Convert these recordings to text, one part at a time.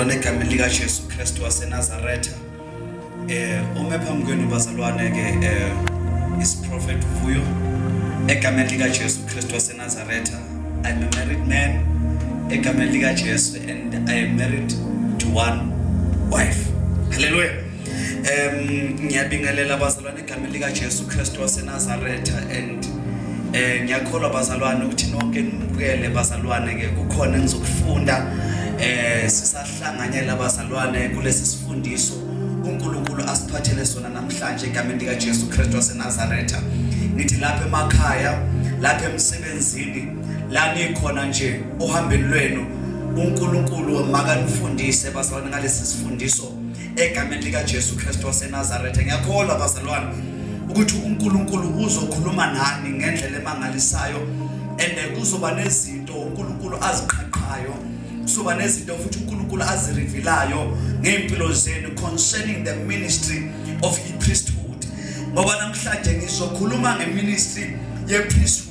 Bana egameni lika Jesu Kristu waseNazaretha. Eh ume phambi kwenu bazalwane ke eh is prophet Vuyo egameni lika Jesu Kristu waseNazaretha. I'm a married man egameni lika Jesu and I am married to one wife. Hallelujah. Em ngiyabingelela bazalwane Igama lika Jesu Kristu waseNazaretha and eh ngiyakholwa bazalwane ukuthi nonke nimukele bazalwane ke kukhona engizokufunda eh sisahlanganyela abazalwane kulesi sifundiso uNkulunkulu asiphathele sona namhlanje egameni lika Jesu Kristu waseNazaretha ngithi lapha emakhaya lapha emsebenzini la nikhona nje ohambeni lwenu uNkulunkulu makanifundise bazalwane ngalesi sifundiso egameni likaJesu Kristu waseNazaretha ngiyakholwa bazalwane ukuthi uNkulunkulu uzokhuluma nani ngendlela emangalisayo and kuzoba nezinto uNkulunkulu aziqhaqhayo kuzoba nezinto futhi uNkulunkulu azirivelayo ngempilo zenu concerning the ministry of the priesthood ngoba namhlanje ngizokhuluma ngeministry ye priesthood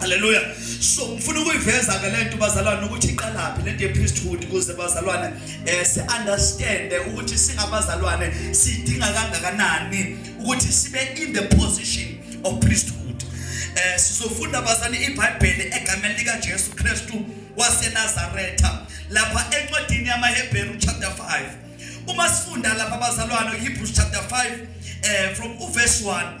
Haleluya. So ngifuna ukuyiveza ke lento bazalwane ukuthi iqalaphi lento yepriesthood ukuze bazalwane eh si understand ukuthi singabazalwane sidinga kangakanani ukuthi sibe in the position of priesthood. Eh sizofunda bazane iBhayibheli egameni lika Jesu Kristu waseNazaretha lapha encwadini yamaHebheru chapter 5. Uma sifunda lapha bazalwane Hebrews chapter 5 eh from uverse 1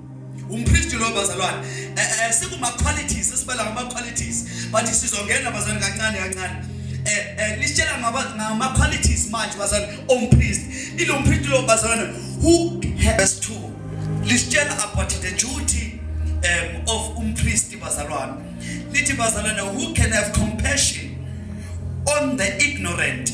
umKristu lo bazalwane eh, eh, eh, sikuma qualities esibala ngama qualities but sizongena bazalwane kancane kancane eh eh nisitshela ngaba ngama qualities manje bazalwane omKristu ilo mKristu lo bazalwane who has to lisitshela about the duty um of umKristu bazalwane lithi bazalwane who can have compassion on the ignorant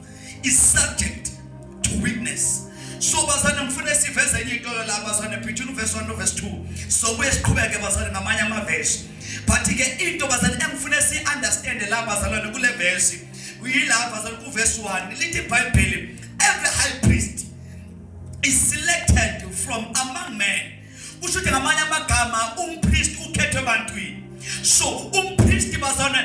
is subject to witness so bazane ngifuna siveze enye into la bazane phithu verse 1 no verse 2 so buye siqhubeke bazane ngamanye ama verse but ke into bazane engifuna si understand la bazalwane kule verse uyilapha bazane ku verse 1 lithi bible every high priest is selected from among men kusho ukuthi ngamanye amagama umpristi ukhethwe ebantwini so umpristi bazane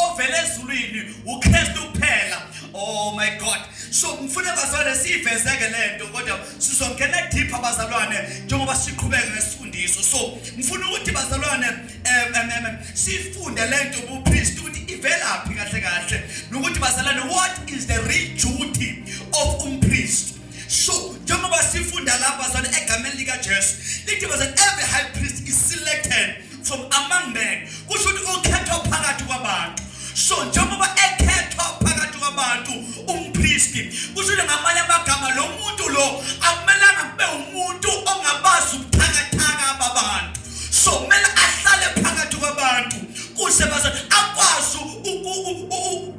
ovele ezulwini ukristu kuphela oh my god so ngifuna bazane siyivezeke le nto kodwa sizongena deeper bazalwane njengoba siqhubeke nesifundiso so ngifuna ukuthi bazalwane um sifunde le nto ubupristi ukuthi ivelaphi kahle kahle nokuthi bazalwane what is the real duty of umpristi so njengoba sifunda lapha sana egameni likaJesu lithi was every high priest is selected from among men kusho ukuthi ukhethwa phakathi kwabantu so njengoba ekhethwa phakathi kwabantu umpristi kusho ukuthi ngamanye amagama lo muntu lo akumelanga kube umuntu ongabazi ubuthakathaka babantu so kumele ahlale phakathi kwabantu kuze baze akwazi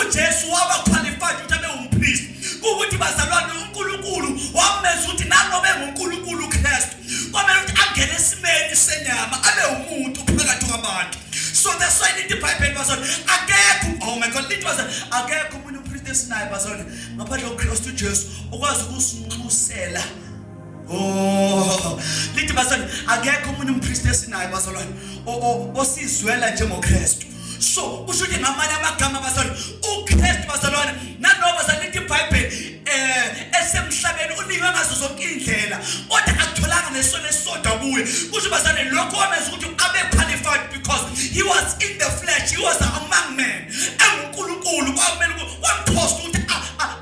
uJesu waba qualified ukuthi abe umpriest ukuthi bazalwane uNkulunkulu wamenza ukuthi nanobe nguNkulunkulu uKristu kwamele ukuthi angene esimeni senyama abe umuntu phakathi kwabantu so that's why lithi iBhayibheli bazalwane akekho oh my god lithi bazalwane akekho umuntu umpriest esinaye bazalwane ngaphandle koKristu uJesu okwazi ukusinxusela Oh, lithi bazali akekho umuntu umpriest esinayo bazalwane osizwela njengoKristu. So kusho ukuthi ngamanye amagama bazalwane uKristu bazalwane naloba bazalwane lithi iBhayibheli eh esemhlabeni unikwe ngazo zonke indlela kodwa akutholanga nesona esisodwa kuye. Kusho bazalwane lokho wamenza ukuthi abe qualified because he was in the flesh, he was among men. EnguNkulunkulu kwamele wamthosta ukuthi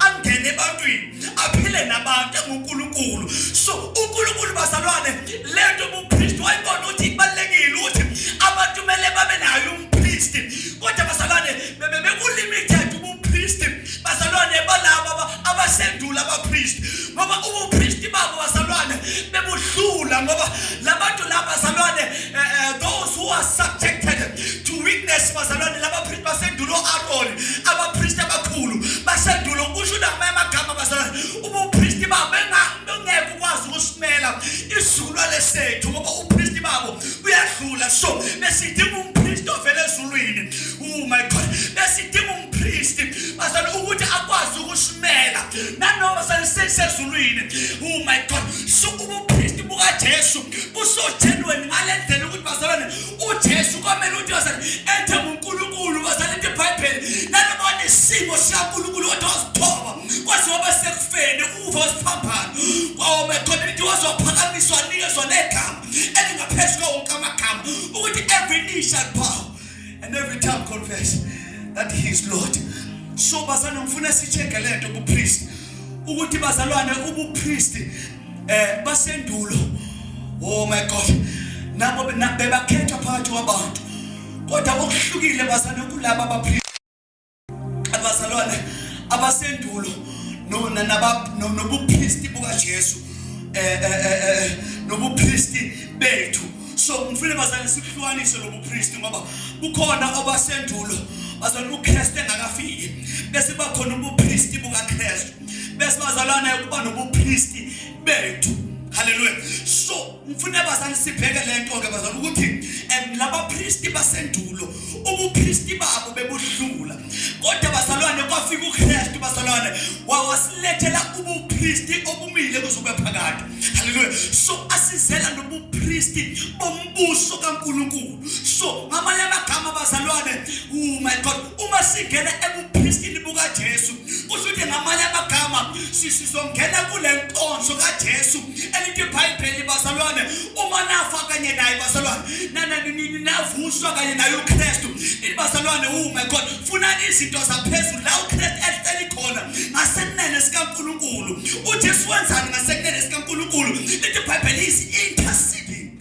angene ebantwini. aphile nabantu enguNkulunkulu so uNkulunkulu bazalwane lento ubupriest wayibona ukuthi ibalekile ukuthi abantu kumele babe nayo umpriest kodwa bazalwane bebe bekulimited ubupriest bazalwane balabo abasendula abapriest ngoba ubupriest babo bazalwane bebuhlula ngoba labantu laba bazalwane eh, eh, those who are subjected to weakness bazalwane laba basendulo Aaron abapriest abakhulu basendulo kusho namanye amagama bazalwane ubupriest babo bengeke ukwazi ukusimela isizukulwane sethu ngoba upriest babo uyadlula so besidinga umpriest ovela ezulwini oh my god besidinga umpriest bazalwane ukuthi akwazi ukusimela nanoma salisezulwini oh my god so ubupriest bukaJesu busojenweni ngalendlela ukuthi bazalwane uJesu kwamele uthi wasala ethe uNkulunkulu kwasala into eBhayibheli nanibona isimo sikaNkulunkulu kodwa wazithoba kwaze waba sekufeni uva wasiphambana kwawome khona into wazophakamiswa nikezwa negama elingaphezu kwawo wonke amagama ukuthi every knee shall bow and every tongue confess that he is Lord so bazana ngifuna sicheke lento kupriest ukuthi bazalwane ubupriest eh basendulo oh my god nabo bebakhethwa phakathi kwabantu kodwa okuhlukile bazana kulaba abaphili abazalwane abasendulo nona nobuphristi bukaJesu eh, eh, eh, nobuphristi bethu so ngifuna bazane sikuhlukanise lobuphristi ngoba kukhona obasendulo bazana uKristu engakafiki bese bakhona ubuphristi bukaKristu besibazalwana yokuba nobupristi bethu haleluya so ngifuna bazali sibheke le nto-ke bazali ukuthi um labapristi basendulo ubupristi babo bebuhlula kodwa bazalwane kwafika ukristu bazalwane wawasilethela ubupristi obumile kuzobe phakade haleluya so asizela nobupristi bombuso kankulunkulu so ngamanye amagama bazalwane oh my god uma singena ebupristini bukajesu kusho ukuthi ngamanye amagama sizongena kule nkonzo kajesu elithi ibhayibheli bazalwane uma nafa kanye naye bazalwane navuswa kanye naye ukristu ini bazalwane ume khona funani izinto zaphezulu la ukristu ehleli khona ngasekunene sikankulunkulu ujesu wenzani ngasekunene sikankulunkulu lithi ibhayibheli is interceding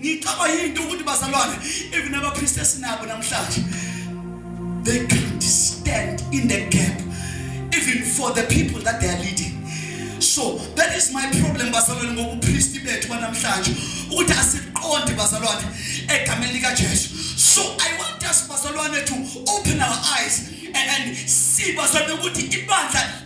ngicaba yinto ukuthi bazalwane even abapriest esinabo namhlanje they can't stand in the gap even for the people that they are leading so that is my problem bazalwane ngobupriest bethu banamhlanje ukuthi asiqondi bazalwane egameni lika Jesu so i want us bazalwane to open our eyes and, and see bazalwane ukuthi ibandla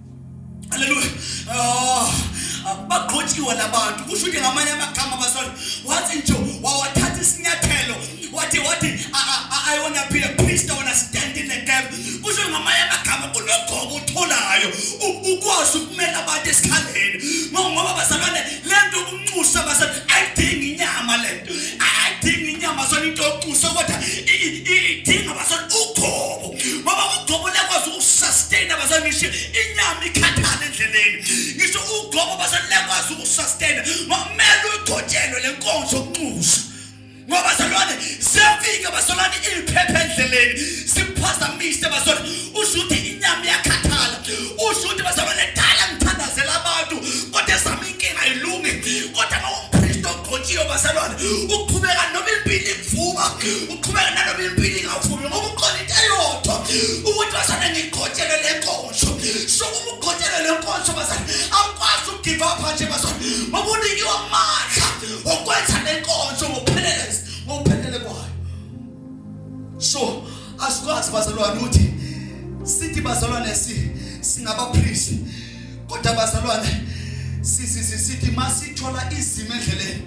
Hallelujah. Oh, bagqotshiwe labantu. Kusho ukuthi ngamanye amagama basona wathi nje wawathatha isinyathelo wathi wathi I want to be a priest, I want to stand in the gap. Kusho ngamanye amagama kunogogo utholayo ukwazi ukumela abantu esikhaleni. Ngoba bazalwane lento ukunxusa basona ayidingi inyama lento. Ayidingi inyama sona into yokunxusa kodwa idinga basona ugogo. ngoba ugobo liyakwazi ukusustain abazali ngisho inyama ikhathana endleleni ngisho ugobo abazali liyakwazi ukusustain ngokumele uyigcotshelwe le nkonzo yokunxusa ngoba bazalwane siyafika bazalwane iliphepha endleleni siphazamise bazalwane usho ukuthi inyama iyakhathala usho ukuthi bazalwane dala ngithandazela abantu kodwa esami inkinga ayilungi kodwa uma umpristi ogcotshiwe bazalwane uqhubeka noma impilo ikuvuma uqhubeka naloba impilo ingavumi ngoba ukhona into eyodwa ukuthi bazane ngigqotshele le nkonzo so uma ugqotshele le nkonzo bazane awukwazi ukugive up nje bazane ngoba unikiwe amandla okwenza le nkonzo ngokupheleleza ngokuphelele kwayo so asikwazi bazalwane ukuthi sithi bazalwane si singabaphristi kodwa bazalwane sisi sisithi masithola izimo endleleni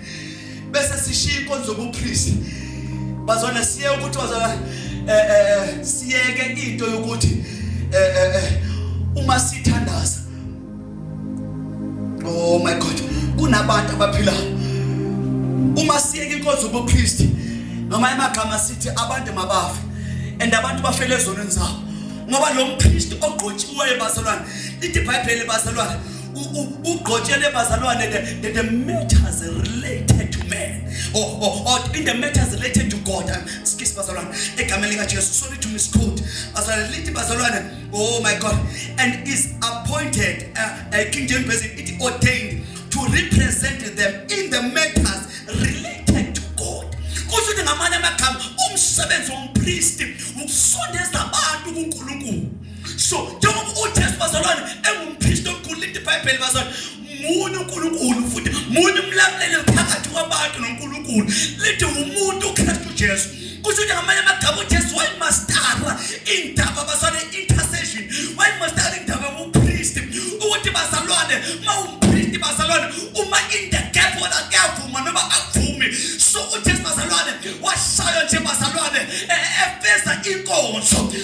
bese sishiya inkonzo yobupriest bazona siye ukuthi bazona eh, eh, eh siyeke into yokuthi eh, eh, eh uma sithandaza oh my god kunabantu abaphila uma siyeke inkonzo yobupriest noma emagama sithi abantu mabafe and abantu bafele ezonweni zabo ngoba lo mpriest ogqotshiweyo bazalwane lithi ibhayibheli bazalwane ugqotshele bazalwane the, the matters related to man or, or, or in the matters related to God skis bazalwane egameni likaJesu sorry to misquote bazalwane lithi bazalwane oh my God and is appointed uh, uh, King James version it ordained to represent them in the matters related to God kusho ukuthi ngamanye amagama umsebenzi wompristi ukusondeza abantu kuNkulunkulu so njengoba ujesu bazalwane engumphristi omkhulu lithi ibhayibheli bazalwane munye unkulunkulu futhi munye umlamleli phakathi kwabantu nonkulunkulu lithi umuntu ukristu jesu kusho ukuthi ngamanye amagama ujesu wayemastara indaba bazalwane intercession wayemastara indaba yobuphristi ukuthi bazalwane ma umphristi bazalwane uma in the gap whether kuyavuma noma akuvumi so ujesu bazalwane washaywa nje bazalwane eh, eh, efeza inkonzo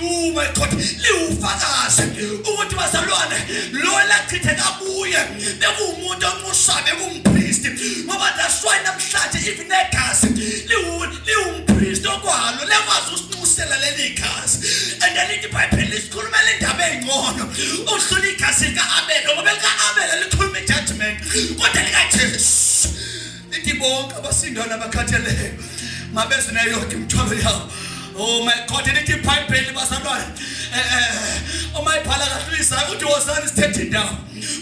Oh my God, liwufakazi ukuthi bazalwane lo elachitheka kuye bekuwumuntu onxusa bekumpristi ngoba that's why namhlanje even negazi liwumpristi okwalo lekwazi usinxusela leli gazi and then ithi ibhayibheli lisikhulumela indaba ey'ngcono udlula igazi lika-abela ngoba lika-abela likhuluma i-judgment kodwa likajesu Ithi bonke abasindayo nabakhatheleyo mabeze nayo yonke imithwalo yawo. Oh my God, lithi iBhayibheli bazalwane. Eh eh uma ibhala kahle lisayo uthi wozani sithethe indawo.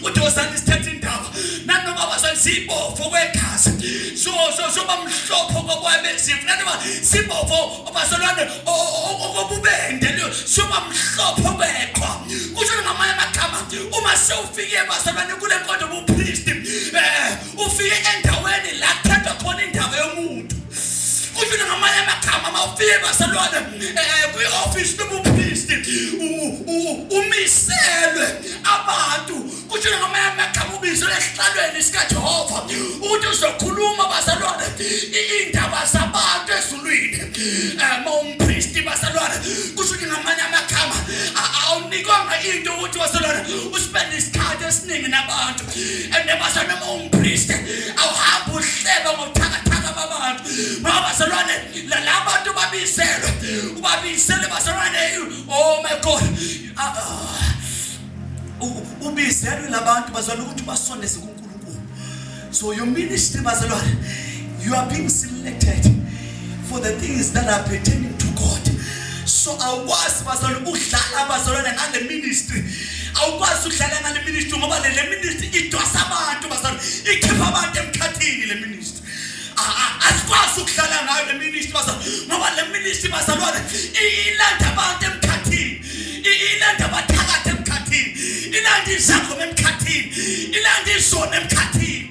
Uthi wozani sithethe indawo. Nanoma bazali sibofo kwegazi. So so so bamhlopho kokwabe sifu. Nanoma sibofo abazalwane okububende leyo so bamhlopho kweqhwa. Kusho ngamanye amagama uma sewufike bazalwane kule nkonzo ubupriest. Eh ufike endaweni la kuthathwa khona indaba yomuntu kusho ukuthi ngamanye amagama uma ufike basalwane um kwi-ofisi nobuphristi umiselwe abantu kusho ukuthi ngamanye amagama ubizelwe esihlalweni sikajehova ukuthi uzokhuluma basalwane iy'ndaba zabantu ezulwini um eh, ma umphristi basalwane kusho ukuthi ngamanye amagama awunikwanga into ukuthi wasalwane usibende isikhathi esiningi nabantu ende base noma umpriest awuhambe uhleba ngobuthakathaka babantu ngoba bazalwane labantu babisele ubabisele bazalwane oh my god ah, ah. ubizelwe labantu bazalwane ukuthi basondeze kuNkulunkulu so your ministry bazalwane you are being selected for the things that are pertaining to God so awukwazi bazalwane ukudlala abazalwane ngale ministry awukwazi ukudlala ngale ministry ngoba le ministry idwasa abantu bazalwane ikhipha abantu emkhathini le ministry asikwazi ukudlala ngayo le ministry bazalwane ngoba le ministry bazalwane ilanda abantu emkhathini ilanda abathakathi emkhathini ilanda izakho emkhathini ilanda izona emkhathini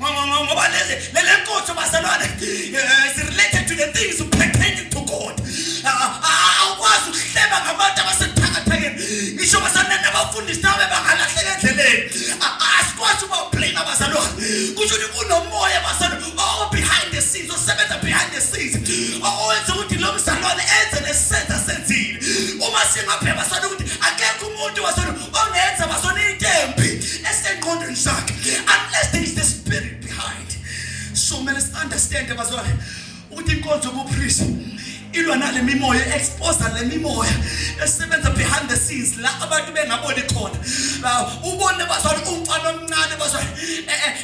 ngoba lelenkothi bazalwane eh, is related to the things pertaining to God ah, ah, ah, awukwazi ukuhleba ngabantu abasebuthakathakeni ngisho bazalwane nabafundisi nawe bangalahleka endleleni asikwazi uba ublame abazalwane kusho ukuthi kunomoya bazalwane owo oh, behind the scenes osebenza behind the scenes owenza ukuthi lo mzalwane enze nesenza senzile uma singapheba sana ukuthi akekho umuntu wasona ongenza bazona into embi esengqondweni zakhe unless there is the spirit behind so kumele si understand bazona ukuthi inkonzo yobupriest ilwa nale mimoya expose le mimoya esebenza behind the scenes la abantu bengaboni khona ubone bazali umfana omncane bazali eh, eh,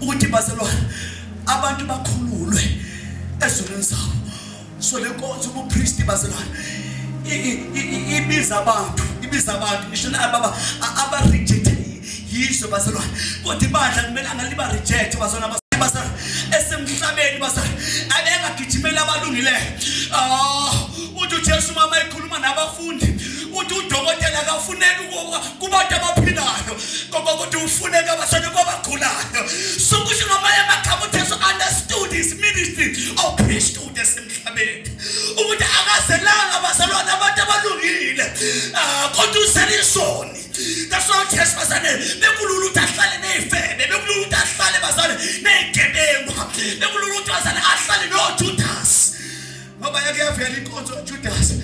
ukuthi bazelwane abantu bakhululwe ezulwini zabo so le nkonzo ubupristi bazelwane ibiza abantu ibiza abantu ngisho nababa abarejected yizo bazalwane kodwa ibandla kumele angaliba reject bazalwane bazalwane esemhlabeni bazalwane abengagijimeli abalungileyo ah uthi uJesu mama ekhuluma nabafundi uthi udokotela akafuneki kubantu abaphilayo ngoba ukuthi ufuneka abasane kwabagulayo sokusho ngamanye amagama uthi so understood his ministry of priesthood esemhlabeni ukuthi akazelanga abazalwane abantu abalungile ah, kodwa uselisoni that's why uthi esifazane bekulula ukuthi ahlale neyifebe bekulula ukuthi ahlale bazane neyigebengu bekulula ukuthi bazane ahlale nojudas ngoba yake yavela inkonzo uJudasi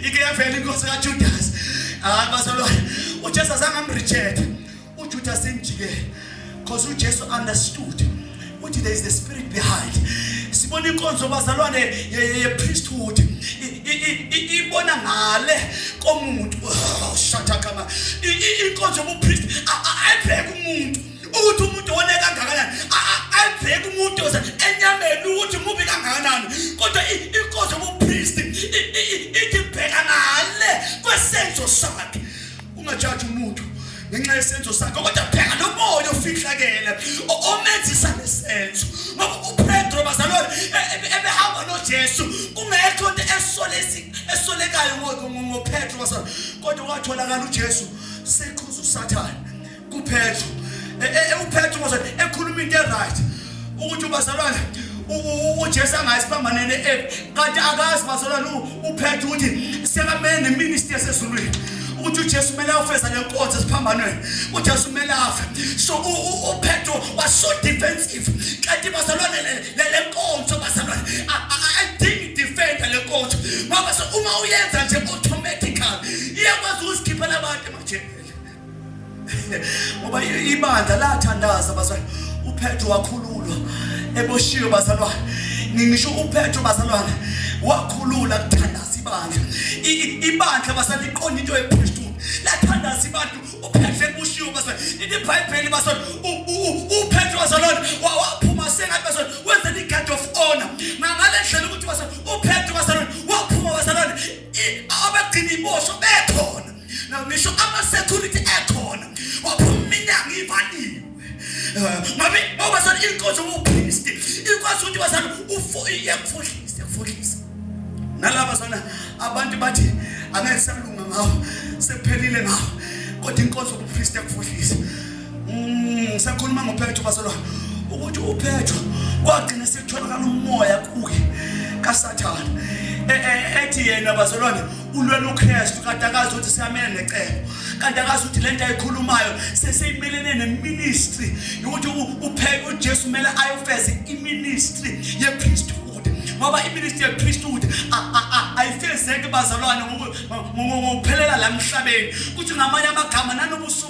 ike yavela inkonzo kaJudasi hayi bazalwane uJesu azange amreject uJudasi imjikele because uJesu understood ukuthi there is the spirit behind sibona inkonzo bazalwane ye priesthood ibona ngale komuntu oh, shathakama inkonzo yobupriest ayibheke umuntu ukuthi umuntu one kangakanani ayibheki umuntu oze enyameni ukuthi mubi kangakanani kodwa inkosi yobupristi ithi bheka ngale kwesenzo sakhe ungajaji umuntu ngenxa yesenzo sakhe kodwa bheka nomoya ofihlakele omenzisa lesenzo ngoba upetro bazalwane e, e, ebehamba nojesu kungekho nto esolekayo ngopetro kodwa kwatholakala ujesu seqhuza usathane kuphetho e, e, e, uphetho ngoze ekhuluma into eright ukuthi ubazalwane uJesu angayisiphambanene ephi kanti akazi bazalwane uphethe ukuthi sekamele neministry yasezulwini ukuthi uJesu kumele afeza lenkonzo esiphambanweni uJesu kumele afe so uPetro was so defensive kanti bazalwane le lenkonzo bazalwane ayidingi defender lenkonzo ngoba so uma uyenza nje automatically iyakwazi ukuzikhiphela abantu emajele ngoba ibandla lathandaza bazalwane uphetro wakhululwa eboshiwe bazalwane ngisho uphetro bazalwane wakhulula kuthandaza ibandla ibandla basaliqonda into ephezulu lathandaza abantu uphetro eboshiwe bazalwane ibhayibheli bazalwane uphetro bazalwane waphuma sengathi bazalwane wenze the guard of honor ngangale ndlela ukuthi bazalwane uphetro bazalwane waphuma bazalwane abagcina ibosho bekhona Now ngisho ama security ekhona waphuma iminyango ivaliwe. Eh, Mami ngoba sana inkonzo uphist ikwazi ukuthi bazana ufuye kufuhlise kufuhlise. Nalaba sana abantu bathi angeke salunga ngawo sephelile ngawo kodwa inkonzo ubuphist kufuhlise. Mm sakhuluma ngophetho basolwa ukuthi uphetho kwagcina sekutholakala umoya kuye kasathana e, e, ethi yena bazalwane ulwela uKristu kanti akazi ukuthi siyamele necebo kanti akazi ukuthi lento ayikhulumayo seseyimelene neministry ukuthi upheke uJesu kumele ayofeza iministry yePriesthood ngoba iministry yepriesthood ayifezeki bazalwane ngokuphelela la emhlabeni kuthi ngamanye amagama nanobusuku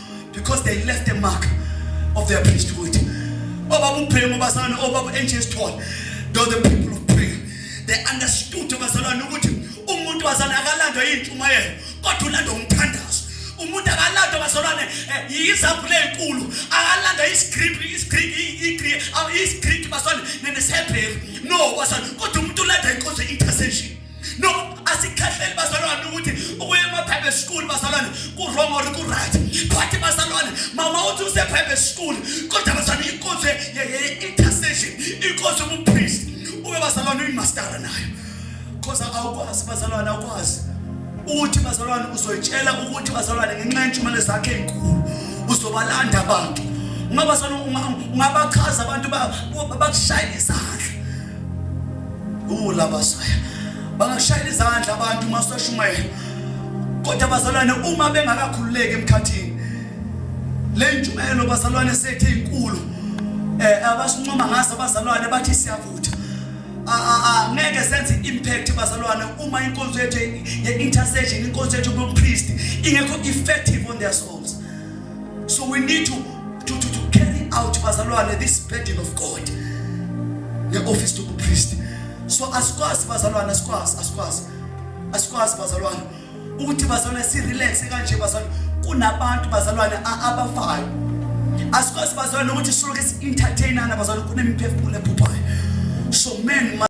because they left a mark of their priesthood obaba ubhemu bazalwane obaba enje sithole though the people of prayer they understood bazalwane ukuthi umuntu bazalwane akalandwa yintshumayelo kodwa ulandwa umthandazo umuntu akalandwa bazalwane eh, yizabhule enkulu akalandwa iscript iscript iscript bazalwane nesebhelu no bazalwane kodwa umuntu ulandwa inkonzo intercession no asikhahleli bazalwane ukuthi ukuya ema-private school bazalwane ku-wrong or ku-right but bazalwane mama uthi use-private school kodwa bazalwane inkonzo ye-intercession inkonzo yobupriest ube bazalwane uyimastara nayo because awukwazi bazalwane awukwazi ukuthi bazalwane uzoyitshela ukuthi bazalwane ngenxa yentshumayelo zakhe enkulu uzobalanda abantu ungabasana ungabachaza abantu bakushayela izandla ulabasaya bangakushayela izandla abantu uma seshumayela kodwa bazalwane uma bengakakhululeki emkhathini le ntshumayelo bazalwane sethe inkulu eh abasincoma ngaso bazalwane bathi siyavutha ngeke senze impact bazalwane uma inkonzo yethu ye intercession inkonzo yethu yobupriest ingekho effective on their souls so we need to to to, to carry out bazalwane this burden of God the office to priest so asikwazi bazalwane asikwazi asikwazi asikwazi bazalwane ukuthi bazalwane si relax kanje bazalwane kunabantu bazalwane abafayo asikwazi bazalwane ukuthi soloke si entertainana bazalwane kunemiphefumulo ephuphayo so men